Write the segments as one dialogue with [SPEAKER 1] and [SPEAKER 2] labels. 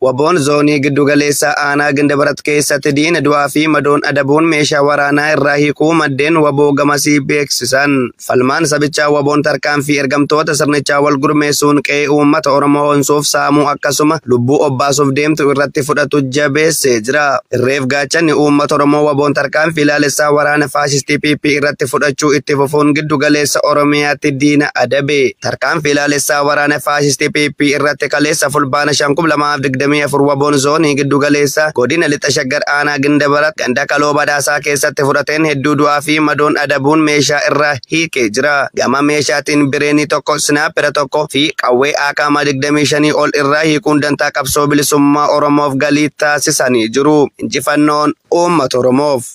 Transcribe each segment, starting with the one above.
[SPEAKER 1] Waboon zoonii giddugaleessa aanaa Gindabarat keessatti diina du'aa fi madoon adabuun meeshaa waraanaa irraa hiikuu maddeen waboo gamasii beeksisan. Falmaan sabichaa waboon tarkaanfii ergamtoota sirnichaa wal gurmeessuun qe'ee uummata Oromoo onsuuf saamuu akkasuma lubbuu obbaasuuf deemtu irratti fudhatu jabeessee jira. Irreef Gaachanni uummata Oromoo waboon tarkaanfii ilaalessaa waraana faashistii PP irratti fudhachuu itti fufuun giddu galeessa Oromiyaatti diina adabe. Tarkaanfii ilaalessaa waraana faashistii PP irratti kaleessa fulbaana 5,2024 waboon zoonii giddu galeessaa godina lixa shaggar aanaa Gindabarat ganda Kaloo Badhaasaa keessatti fudhateen hedduu du'aa fi madoon adabuun meeshaa irraa hiikee jira. Gama meeshaatiin bireenii tokko, sinaapera tokko fi qawwee aakaama 25 ol irraa hiikuun dantaa qabsoo bilisummaa Oromoof galii taasisanii jiru. Injifannoon uummata Oromoof!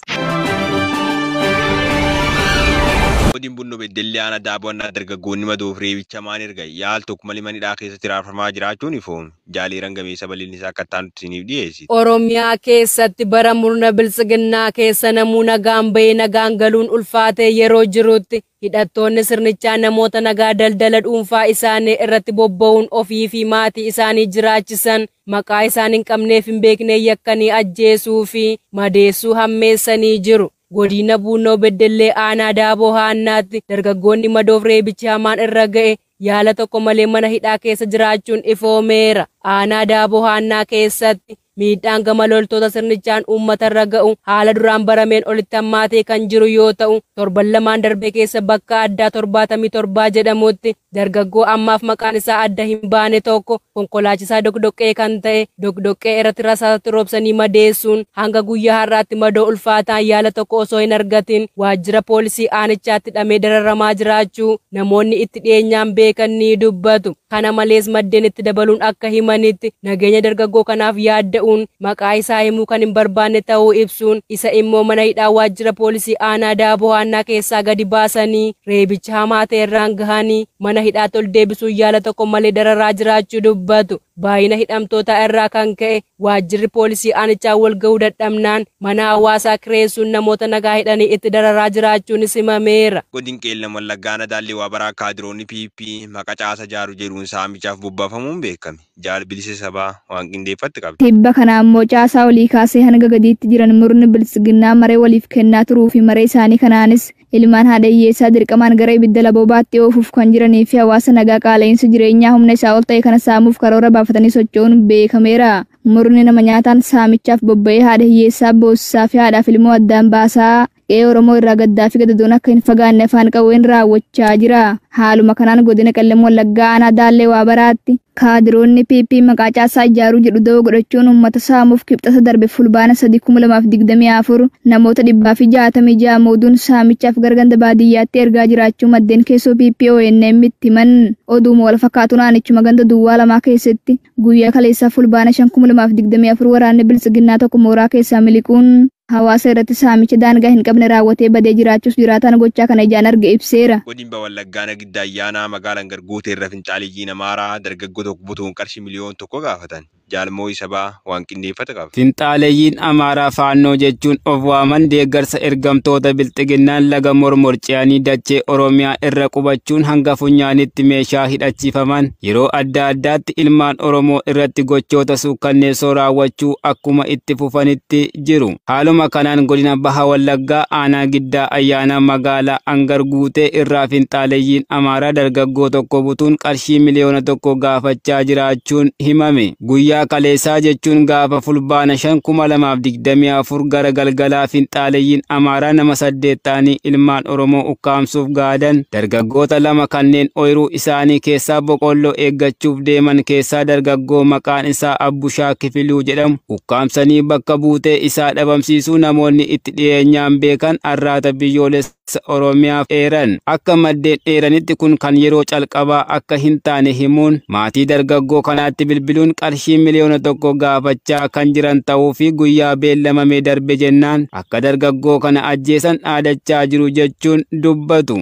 [SPEAKER 2] Godin Bunno Beddellee Aanaa Daaboo Annaa Dargaggoonni Madoof Reebicha Hamaan Erga Yaal Tokko Malee Mana Hidhaa Keessatti Hiraarfamaa Jiraachuun Ifoome. Jaal Eeran Gameessaa bal'inni isaa akka itti aanutti isiniif dhiyeessiti. Oromiyaa keessatti
[SPEAKER 3] bara murna Biltsiginnaa keessa namuu nagaan bahee nagaan galuun ulfaatee yeroo jirutti hidhattoonni sirnichaa namoota nagaa daldala dhuunfaa isaanii irratti bobba'uun ofii fi maatii isaanii jiraachisan maqaa isaan hin qabnee fi hin beekneen yakkanii ajjeesuu fi madeessuu hammeessanii jiru. Godiina Buunnoo Beddellee Aanaa Daaboo Haannaatti dargaggoonni madoof reebichi hamaan irra ga'e yaala tokko malee mana hidhaa keessa jiraachuun ifoomeera. Aanaa Daaboo Haannaa keessatti miidhaan gama loltoota sirnichaan uummatarra ga'u haala duraan barameen olitti hammaatee kan jiru yoo ta'u, torban lamaan darbe keessa bakka addaa 77 jedhamutti dargaggoo ammaaf maqaan isaa adda hin baane tokko konkolaachisaa doqdoqqee kan ta'e doqdoqqee irratti rasaasatti roobsanii madeessuun hanga guyyaa har'aatti madoo ulfaataan yaala tokko osoo hin argatiin waajjira poolisii aanichaatti hidhamee dararamaa jiraachuu namoonni itti dhiyeenyaan beekan ni dubbatu. Kana malees maddeen itti dabaluun akka himanitti, nageenya dargaggoo kanaaf yaadda'uun maqaa isaa himuu kan hin barbaanne ta'uu ibsuun, isa immoo mana hidhaa waajjira poolisii aanaa Daaboo Haannaa keessaa gadi baasanii reebicha hamaa ta'e irraan gahanii mana hidhaatti ol deebisuun yaala tokko malee dararaa jiraachuu dubbatu. Baayina hidhamtootaa irraa kan ka'e waajjirri poolisii aanichaa wal ga'uu dadhabnaan mana hawaasaa kireessuun namoota nagaa hidhanii itti dararaa jiraachuunis himameera. Godin Qeellam Wallaggaa
[SPEAKER 2] Aanaa Daallee Waabaraa Kaadiroonni PP maqa caasa jaaru jedhuun saamichaaf bobbaafamuun beekame. Jaal Bilisa Sabaa waan qindeeffatte qabdi. Tibba kana ammoo caasaa
[SPEAKER 4] olii kaasee hanga gadiitti jiran murni Biltsiginnaa maree waliif kennaa turuu fi maree isaanii kanaanis Ilmaan haadha hiyyeessaa dirqamaan gara ibidda laboobaatti oofuuf kan jiranii fi hawaasa nagaa qaala'iinsa jireenyaa humna isaa ol ta'e kana saamuuf karoora baafatanii socho'uun beekameera. Murni nama nyaataan saamichaaf bobba'ee haadha hiyyeessaa boossisaa fi haadhaaf ilmoo addaan baasaa qe'ee Oromoo irraa gaddaa fi gadadoon akka hin fagaanne afaan qawween raawwachaa jira. Haaluma kanaan godina Qellem Wallaggaa aanaa Daallee Waabaraatti Kaadiroonni PP maqaa caasaa ijaaruu jedhu dawoo godhachuun uummata saamuuf Kibxata darbe Fulbaana 3, 2024 namoota 166 muuduun saamichaaf gara ganda baadiyyaatti ergaa jiraachuu maddeen keessoo PP ONM'tti himan. Oduuma walfakkaatuun aanichuma ganda Duwwaa Lamaa keessatti guyyaa kaleessaa Fulbaana 5, 2024 waraanni Biltsiginnaa tokko mooraa keessaa miliquun hawaasa irratti saamicha daangaa hin qabne raawwatee badee jiraachuus jiraataan gochaa kana ijaan arge ibseera. Godinba Wallagga Aanaa
[SPEAKER 2] Giddaa Ayyaanaa magaalan gad guute irra finxaaleyyiin Amaaraa dargaggoo tokko butuun qarshii miliyoon tokko gaafatan. Jaal Moo'ii Sabaa waan qindeeffate qaba. Finxaaleyyiin Amaaraa
[SPEAKER 5] Faannoo jechuun of waaman deeggarsa ergamtoota Bilxiginnaan laga Mormor ce'anii dachee Oromiyaa irra qubachuun hanga funyaanitti meeshaa hidhachiifaman. Yeroo adda addaatti ilmaan Oromoo irratti gochoota suukkanneessoo raawwachuu akkuma itti fufanitti jiru. Haaluma kanaan godina Baha Wallaggaa aanaa Giddaa Ayyaanaa magaalaa Angar Guutee irraa finxaaleyyiin Amaaraa dargaggoo tokko butuun qarshii miliyoona tokko gaafachaa jiraachuun himame. Guyyaa kaleessaa jechuun gaafa fulbaana 5,2024 gara galgalaa finxaaleyyiin Amaaraa nama saddeet ta'anii ilmaan Oromoo ukkaamsuuf gaadan dargaggoota lama kanneen ooyiruu isaanii keessaa boqolloo eeggachuuf deeman keessaa dargaggoo maqaan isaa Abbushaa Kifiluu jedhamu ukkaamsanii bakka buutee isaa dhabamsiisuu namoonni itti dhiyeenyaan beekan arraata biyyoolessa Oromiyaaf eeran. Akka maddeen eeranitti kun kan yeroo calqabaa akka hin taane himuun maatii dargaggoo kanaatti bilbiluun qarshii miliyoona tokko gaafachaa kan jiran ta'uu fi guyyaa beellamamee darbe jennaan akka dargaggoo kana ajjeesan dhaadachaa jiru jechuun dubbatu.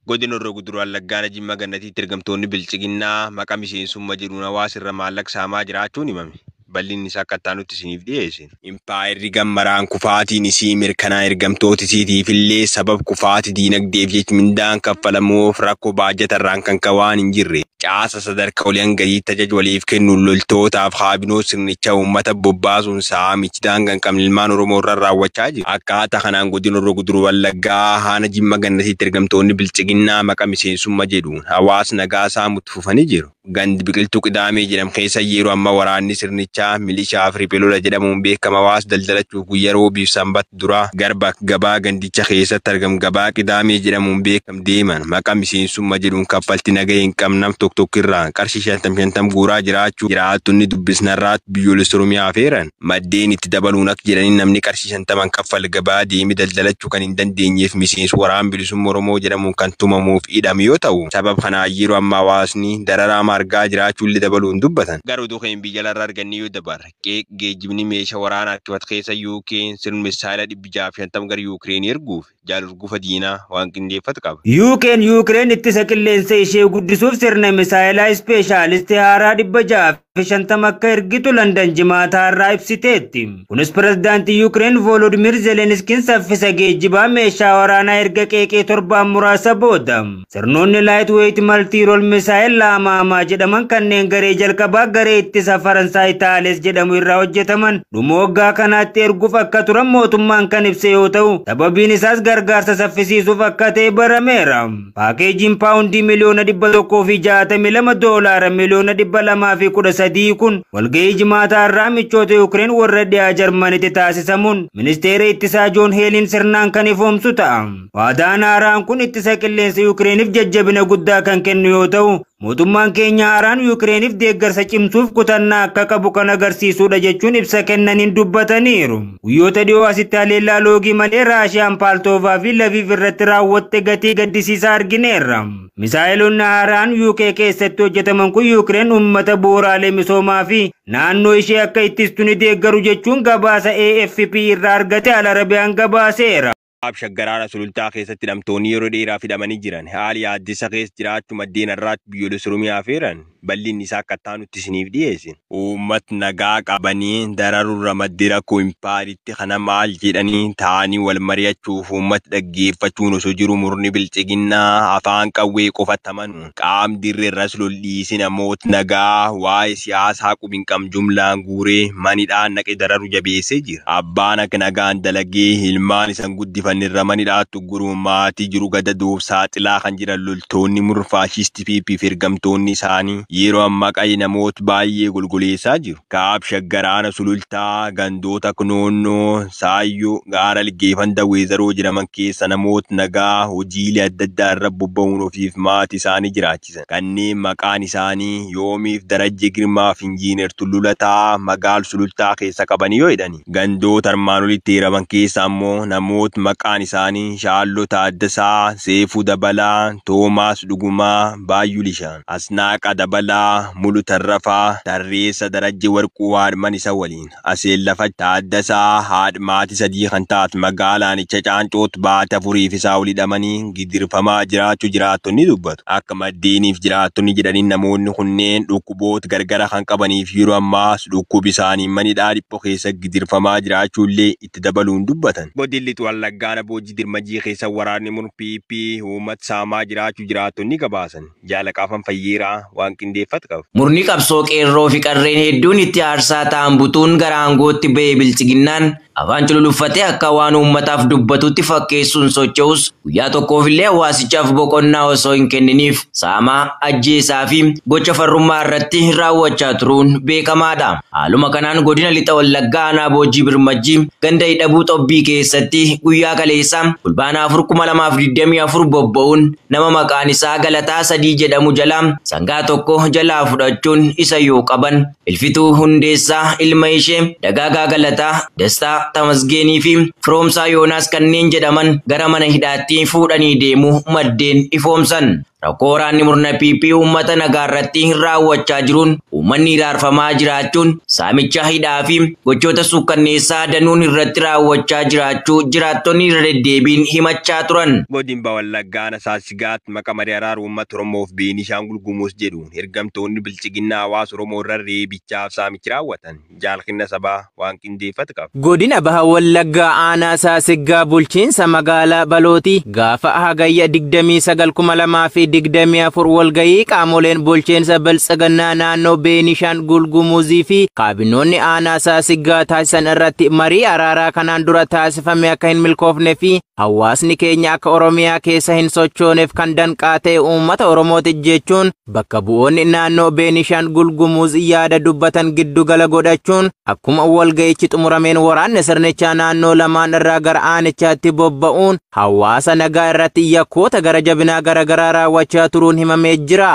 [SPEAKER 2] Godina Horroo Guduruu Wallaggaa Aanaa Jimmaa Gannatiitti ergamtoonni Biltsiginnaa maqaa miseensumma jedhuun hawaasa irra maallaq saamaa jiraachuun himame. Bal'inni isaa akka itti aanutti isiniif dhiyeessin. Impaayerri gammaraan kufaatiin isii mirkanaa ergamtoota isiitiif illee sabab kufaati diinagdeef jech mindaan kaffalamuuf rakko baajata irraan kan ka'e waan hin jirreef caasa Hoggantoota sadarkaa olii hanga gadiitti tajaajila waliif kennuun loltootaaf kaabinoota sirnichaa uummata bobbaasuun saamichi daangaa hin qabne ilmaan Oromoo irraan raawwachaa jira. Akkaataa kanaan Godina Horroo Guduruu Wallaggaa Aanaa Jimma Gannatiitti ergamtoonni Biltsiginnaa maqaa miseensumma jedhuun hawaasa nagaa saamuu itti fufanii jiru. Gandi Biqiltuu Qidaamee jedhamu keessa yeroo ammaa waraanni sirnichaa milishaa fi riphee lola jedhamuun beekama hawaasa daldalachuuf guyyaa Roobii fi Sanbata duraa garba gabaa gandicha keessatti argamu gabaa Qidaamee jedhamuun beekama deeman maqaa miseensummaa jedhuun kaffaltii nagaa hin qabnam tokko tokkirraan qarshii shantam shantam guuraa jiraachuu jiraattonni dubbisnarraatti biyyoolessa Oromiyaa afeeran maddeen itti dabaluun akka jedhanii namni qarshii shantaman kaffal gabaa deemee daldalachuu kan hin dandeenyeef miseensa waraan bilisummaa Oromoo jedhamuun kan tumamuuf hidhame yoo ta'u sabab kanaan yeroo amma hawaasni dararaa amma argaa jiraachuullee dabaluun dubbatan. Gara oduu keenya biyya alaarraa argannee yoo dabarre qeeq geejjibni meeshaa waraana harkifat keessa UK'n sirn misaayila dhibbi jaaf shantam gara Yuukireen erguuf jaal urgufa diinaa waan qindeeffat qaba. UK'n Yuukireen ittisa
[SPEAKER 6] qilleensa ishee guddisuuf sirna misaayelaa ispeeshaalistii haaraa 650 akka ergitu Landan Jimaata har'aa ibsiteetti. Kunis pirezidaantii Yuukireen Voolodimiir Zeleniskiin saffisa geejjibaa meeshaa waraanaa erga qeeqee torbaan muraasa booda. Sirnoonni Lightweight Multi-Role Missile Laamaamaa jedhaman kanneen garee jalqabaa garee ittisa Faransaay Taales jedhamu irraa hojjetaman dhuma waggaa kanaatti erguuf akka turan mootummaan kan ibse yoo ta'u, sababiin isaas gargaarsa saffisiisuuf akka ta'e barameera. Paakeejiin paawundii miliyoona 162 doolaara miliyoona 213 kun walga'ii Jimaataa irraa michoota Yukireen warra dhiyaa Jarmanitti taasisamuun ministeera ittisaa Joon Heeliin sirnaan kan ifoomsu ta'a. Waadaan haaraan kun ittisa qilleensa Yuukireeniif jajjabina guddaa kan kennu yoo ta'u, mootummaan keenya haaraan Yuukireeniif deeggarsa cimsuuf kutannaa akka qabu kan agarsiisudha jechuun ibsa kennaniin dubbataniiru. Guyyoota dhiyoo asitti haleellaa loogii malee Raashiyaan Paaltoovaa fi Laviiv irratti raawwatte gatii gaddisiisaa argineerra. Misaa'eloonni haaraan UK keessatti hojjetaman kun Yuukireen uummata bu'uuraalee misoomaa fi naannoo ishee akka ittistu ni deeggaru jechuun gabaasa AFP irraa argate Al Arabiyaan gabaaseera. Kaab Shaggar Aanaa
[SPEAKER 2] Sulultaa keessatti hidhamtoonni yeroo dheeraaf hidhamanii jiran haala yaaddessa keessa jiraachuu maddeen har'aatti biyyoolessa Oromiyaa afeeran bal'inni isaa akka ittaanutti isiniif dhiyeessina. Uummat nagaa qabanii dararurra maddi rakkoo impaayeritti kana maal jedhanii taa'anii wal mari'achuuf uummat dhaggeeffachuun osoo jiruu murni bilxiginnaa afaan qawwee qofatti amanu Qaam dirreerras lol dhiisi namoot nagaa waa'e siyaasaa qub hin qabn jumlaan guure man hidhaa naqe dararu jabeesse jira. Abbaan ak nagaan dalage ilmaan isan guddifanne irra man hidhaat ugguru maatii jiru gadadoof saaxilaa kan jiran loltoonni murn faashisti pp fi ergamtoonni isaanii yeero amma qaye namoot baay'ee golgoleessaa jiru. Kaab Shaggar Aana Sulultaa gandoota Knoonnoo, Saayyoo, Gaaralgee fanda Weezaroo jedhaman keessa namoot nagaa hojiilee adda addaa irra bobba'uun ofiif maati isaanii jiraachisan kanneen maqaan isaanii Yoomiif Darajjee Girmaaf Injiiner Tulluu Lataa magaal Sulultaa keessa qabanii yoo hidhani gandoota armaan olitti eeraman keessa ammoo namoot maqaan isaanii Shaalloo Taaddasaa, Seefuu Dabalaa, Toomaas Dhugumaa, Baayyuu Lisha. Asnaaqa Dabalaa, Mulu Tarrafaa, Tarreessa Darajje Warquu haadhman isa waliin, Aseellafach Taaddasaa, haadh maati sadii kan taat magaala aanicha Caancoott baati afuriif isaa ol hidhamanii gidirfamaa jiraachu jiraattonni dubbatu. Akka maddeeniif jiraattonni jedhanin namoonni kunneen dhukkuboot gargara kan qabaniif yeroo ammaas dhukkub isaaniin man hidhaa dhipho keessa gidirfamaa jiraachu illee itti dabaluun dubbatan. Godin Lix Wallaggaa Ana Boojji Dirmajii keessa waraanni murn PP uumat saamaa jiraachu jiraattonni gabaasan. Jaala Qaafan Fayyeeraa waan qindeeffat qaba. Murni qabsoo qeerroo
[SPEAKER 7] fi qarreen hedduun itti aarsaa ta'an butuun gara aangootti ba'e bilxiginnaan afaan cululuffatee akka waan uummataaf dubbatutti fakkeessuun socho'us guyyaa tokkoofillee hawaasichaaf boqonnaa osoo hin kenniniif saamaa, ajjeesaa fi gocha farrummaa irratti raawwachaa turuun beekamaadha. Haaluma kanaan godina lixa Wallaggaa aanaa Boojjii Birmajjii ganda Hidhabuu Xobbii keessatti guyyaa kaleessaa Fulbaana 4,2024 bobba'uun Nama maqaan isaa Galataa Sadii jedhamu jalaa sangaa tokko jalaa fudhachuun isa yoo qaban, Ilfituu Hundeessaa, ilma ishee, Dagaagaa Galataa, Dastaa Tamasgeenii fi Firoomsaa Yoonaas kanneen jedhaman gara mana hidhaatti fuudhanii deemuu maddeen ifoomsan. Rakkoo waraanni murna PP uummata nagaa irratti raawwachaa jiruun uummanni hiraarfamaa jiraachuun saamicha hidhaa fi gochoota suukkanneessaa danuun irratti raawwachaa jiraachuu jiraattonni irra deddeebiin himachaa turan. Kibba Wallaggaa
[SPEAKER 2] Aana Saassigaatti maqa marii araara uummata Oromoo fi Beenishaangul Gumuz jedhuun hergamtoonni biltsiginnaa hawaasa Oromoo irra reebichaaf saamichi raawwatan Jaal Kinna Sabaa waan qindeeffate qaba. Godina Baha Wallaggaa
[SPEAKER 5] Aanaa Saasiggaa Bulchiinsa Magaalaa Balooti gaafa Hagayya 29,2024 walgahii qaamoleen bulchiinsa biltsiginnaa naannoo Beenishaangul Gumuzii fi kaabinoonni aanaa Saasiggaa taasisan irratti marii araaraa kanaan dura taasifame akka hin milkoofne fi Hawaasni keenya akka Oromiyaa keessa hin sochooneef kan danqaa ta'e uummata Oromooti jechuun bakka bu'oonni naannoo Beenishaangul Gumuuz yaada dubbatan giddu gala godhachuun akkuma walga'ichi xumurameen waraanni sirnichaa naannoo lamaan irraa gara aanichaatti bobba'uun hawaasa nagaa irratti yakkoota gara jabinaa garaagaraa raawwachaa turuun himamee jira.